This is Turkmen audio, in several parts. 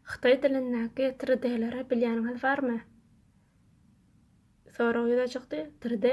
Hytaý dilindäki 3D-leri bilýäniňiz barmy? Sorag ýüze çykdy, 3D,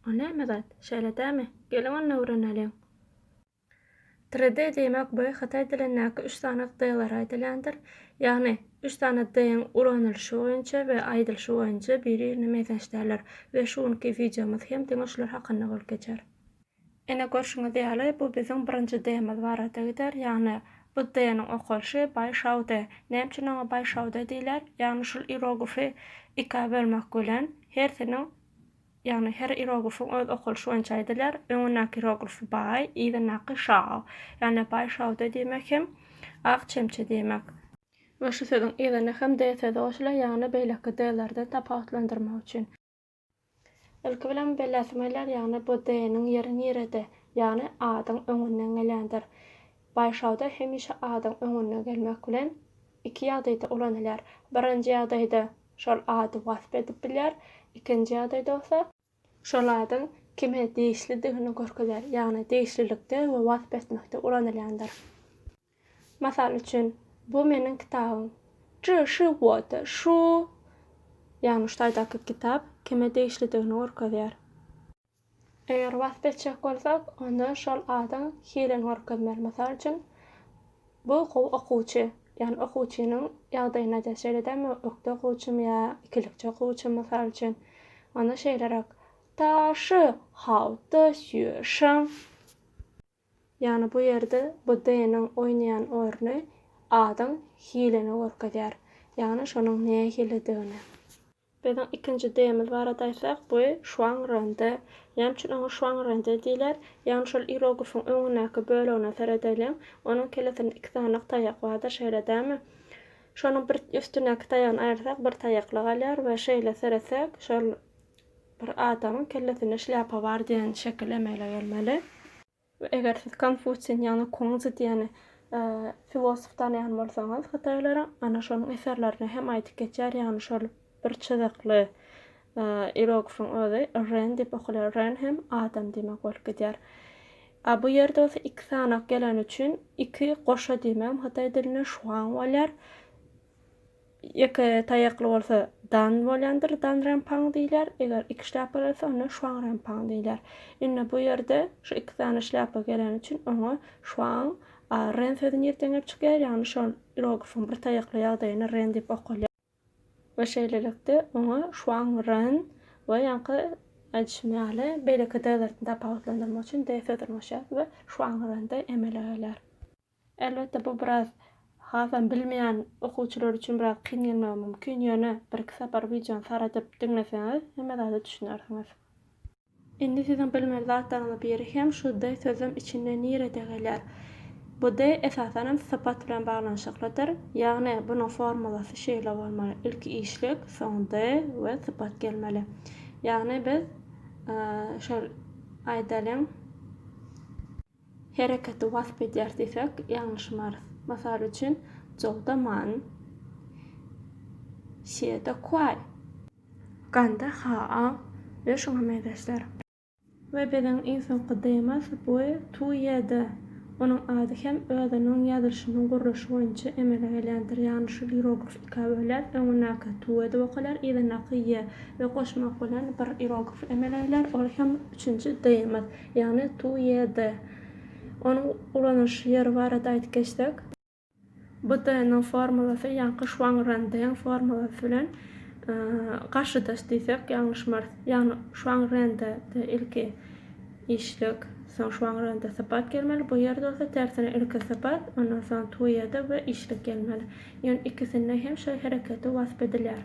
o näme zat, şeýle dämi? Geliň onda öwreneliň. 3D diýmek bu hytaý dilindäki üç sany D-lara aýdylýandyr. Ýagny, üç sany D-iň ulanylyşy boýunça we aýdylyşy boýunça biri-birine meňzeş däldir we şu günki wideomyz hem diňe şular hakynda bolup geçer. Ine, görşüňiz ýaly, bu biziň birinji D-miz barada gider, ýagny bu D-niň okalyşy Baý Şao D. Näme üçin oňa Baý Şao D diýilýär? Ýagny şul ieroglify ikä bölmek bilen, hersiniň, ýagny her ieroglifiň öz okalyşy boýunça aýdylýar, öňündäki ieroglify Baý, yzyndaky Şao. Ýagny Baý Şao D diýmek hem Ak çemçe diýmek. We şu sözüň yzyna hem D sözi goşulýar, ýagny beýleki D-lerden tapawutlandyrmak üçin. Ilki bilen belläsim gelýär, ýagny bu D-niň ýeri nirede? Ýagny A-dyň öňünden gelýändir. Baýşawda hemişe A-dyň öňünden gelmek bilen iki ýagdaýda ulanylýar. Birinji ýagdaýda şol ady wasp edip bilýär, ikinji ýagdaýda bolsa, şol adyň kime degişlidigini görkezýär, ýagny degişlilikde we wasp etmekde ulanylýandyr. Mysal üçin, bu meniň kitabym. Zhi shi wo de shu, ýagny şu taýdaky kitap kime degişlidigini görkezýär. Eger wasp etjek bolsak, onda şol adyň hilini görkezmeli. Mysal üçin, bu gowy okuwçy, ýagny okuwçynyň ýagdaýyny aýdýar. Şeýle dälmi, ökde okuwçym ýa ikilikçi okuwçym, mysal üçin. Onda şeýleräk, Ta shi hao de xue sheng. Ýagny bu ýerde bu D-niň oýnaýan orny A-dyň hilini görkezýär. Ýagny şonuň nähilidigini. Biziň ikinji D-miz barada aýtsak, bu şwangrende. Näme üçin oňa şwangrende diýler? Ýagny şol irogifiň öňündäki bölegine seredeliň. Onuň kellesinde iki sanyk taýak bardyr, şeýle dälmi? Şonuň bir üstündäki taýagyny aýyrsak, bir taýakly galýar we şeýle seretsek, şol Bir adamyň kellesinde şlýapa bar diýen şekil emele gelmeli. We eger siz Konfusiýni ýagny Kunzi diýen filosof tanaýan bolsaňyz hytaýlaryň, ana şonuň eserlerinde hem aýdyp geçýär, ýagny şol bir çyzykly irogifiň özi Ren diýip okalýar, Ren hem adam diýmek bolup gidýär. A bu ýerde bolsa iki sanak geleni üçin iki goşa diýmegem hytaý dilinde şuang bolýar. Ýeke taýakly bolsa dan bolýandyr, danrenpang diýilýär, eger iki şlýapa gelse, onda şwanrenpang diýilýär. Indi bu ýerde şu iki sany şlýapa geleni üçin oňa şwang, a ren sözi nirden gelip çykýar, ýagny şol iroglifyň bir taýakly ýagdaýyny ren diýip okalýar. We şeýlelikde, oňa şwangren we ýaňky aýdyşym ýaly, beýleki d-lerden tapawutlandyrmak üçin d sözüni goşýarys we şwangrende emele gelýär. Elbetde, bu biraz hasam bilmeýän okuwçylar üçin biraz kyn gelmegi mümkin, ýöne birki sapar wideony saradyp diňleseňiz, hemme zada düşünersiňiz. Indi siziň bilmeli zatlaryňyzyň biri hem şu de sözem içinde nirede gelýär? Bu de esasan hem sypat bilen baglanyşyklydyr. Ýagny, bunuň formulasy şeýle bolmaly, ilki işlik, soň de we sypat gelmeli. Ýagny biz şol aýdalyň. Hereketi wasp edýär diýsek, ýalňyşmarys. Mysal üçin, jowda man. Şiýede kuaý. Ganda haa we şuňa meňzeşler. We biziň iň soňky D-miz bu tuýýede. Onuň ady hem özüniň ýazylyşynyň gurluşy boýunça emele gelýändir. Ýagny şu ierogrif ikä bölýär, öňündäki tuý edip okalýar, yzyndaky ýe we goşmak bilen bir ierogrif emele gelýär, ol hem üçünji D-miz. Ýagny tu ýe de. Onuň ulanylyş ýeri barada aýdyp geçsek. Bu de-nyň formulasy ýaňky şwang-ren-deň formulasy bilen garşydaş diýsek ýalňyşmarys. Ýagny şwang-ren-de de ilki işlek, soň şwang-ren-de sypat gelmeli, bu ýerde bolsa tersine ilki sypat, ondan soň tu ýe de we işlek gelmeli. Ýöne ikisinde hem şol hereketi wasp edilýär.